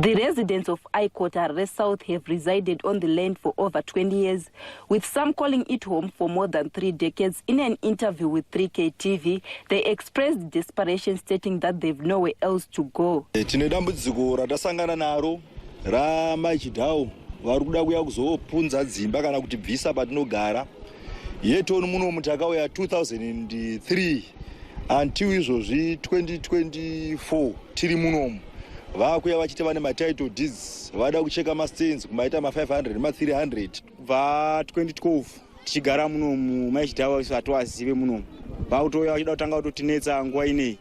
The residents of Aikot Harare South have resided on the land for over 20 years, with some calling it home for more than three decades. In an interview with 3K TV, they expressed desperation, stating that they've nowhere else to go. Eh, tine dambudziko ratasangana naro ramai Chidhawu vari kuda kuya kuzopunza dzimba kana kuti bvisa patinogara yetoni munomu takauya 2003 until izvozvi 2024 tiri munomu vakuya vachiti vane matitle deeds vada kucheka mastands kumaita ma500 ma300 kubva 2012 tichigara munomu maichidhava isu hatiwazive munomu vakutouya vachida kutanga kutotinetsa nguva inei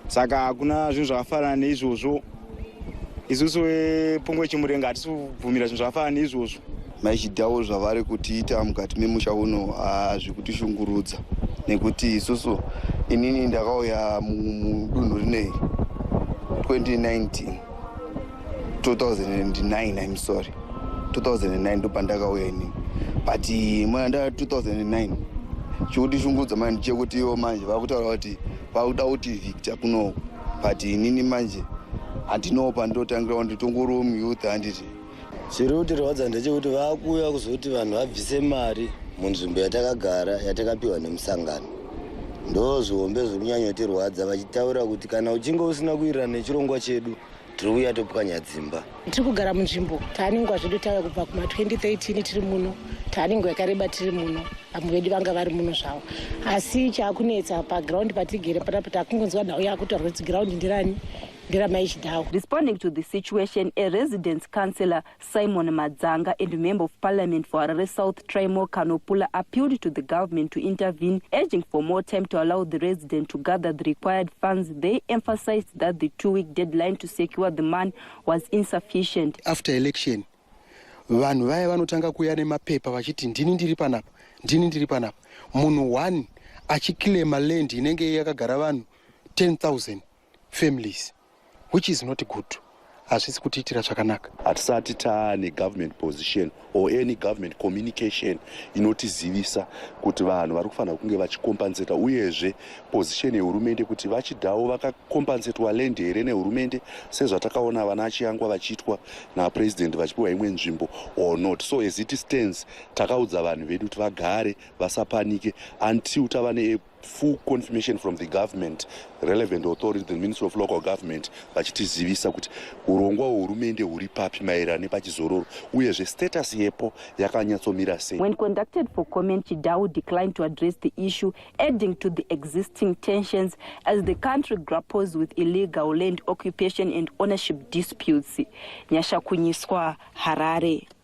saka hakuna zvinhu zvakafanana neizvozvo isusu vepungwe eh, chimurenga hatisi kubvumira zvinhu zvakafanana neizvozvo maichidawo zvavari kutiita mukati memusha uno hazvi kutishungurudza nekuti isusu inini ndakauya mudunhu rinei 2019 2009 im sorry 2009 ndopandakauya inini but mwana nda 2009 chikutishungurudza manje chekutiwo manje vakutaura kuti Vakuda kuti Victor kuno but inini manje handinowo pandotangirawo nditongoriwo muyouth handiti chiri kutirwadza ndechekuti vakuuya kuzoti vanhu vabvise mari munzvimbo yatakagara yatakapiwa nemusangano ndo zvihombe zviri kunyanyotirwadza vachitaura kuti kana uchinge usina kuirana nechirongwa chedu tiri kuuya topwanya dzimba tiri kugara munzvimbo taaningwa zvedu tauya kubva kuma 2013 tiri muno taaningwa yakareba tiri muno vamwe vedu vanga vari muno zvavo asi chaakunetsa pagraundi patigere panapa takungonzwa nhau yakutorwa kuti giraundi ndirani ndiramai chidhawo responding to the situation a residence councillor Simon Madzanga and Member of Parliament for Harare South Trymore Kanopula appealed to the government to intervene, urging for more time to allow the resident to gather the required funds. They emphasized that the two-week deadline to secure the money was insufficient. After election, vanhu vaya vanotanga kuya nemapepa vachiti ndini ndiri panapa ndini ndiri panapa munhu one achiclaima land inenge yakagara vanhu 10000 families which is not good hazvisi kutiitira zvakanaka hatisati taane government position or any government communication inotizivisa kuti vanhu vari kufanira kunge vachikompanseta uyezve position yehurumende kuti vachidawo vakakompansetwa land here nehurumende sezvatakaona vana achiyangwa vachiitwa napresident vachipiwa imwe nzvimbo or not so as it stands takaudza vanhu vedu kuti vagare vasapanike until tava neapp full confirmation from the government relevant authority the ministry of local government vachitizivisa kuti urongwa hwehurumende huri papi maererano nepachizororo uyezve status yepo yakanyatsomira sei when conducted for comment chidau declined to address the issue adding to the existing tensions as the country grapples with illegal land occupation and ownership disputes nyasha kunyiswa harare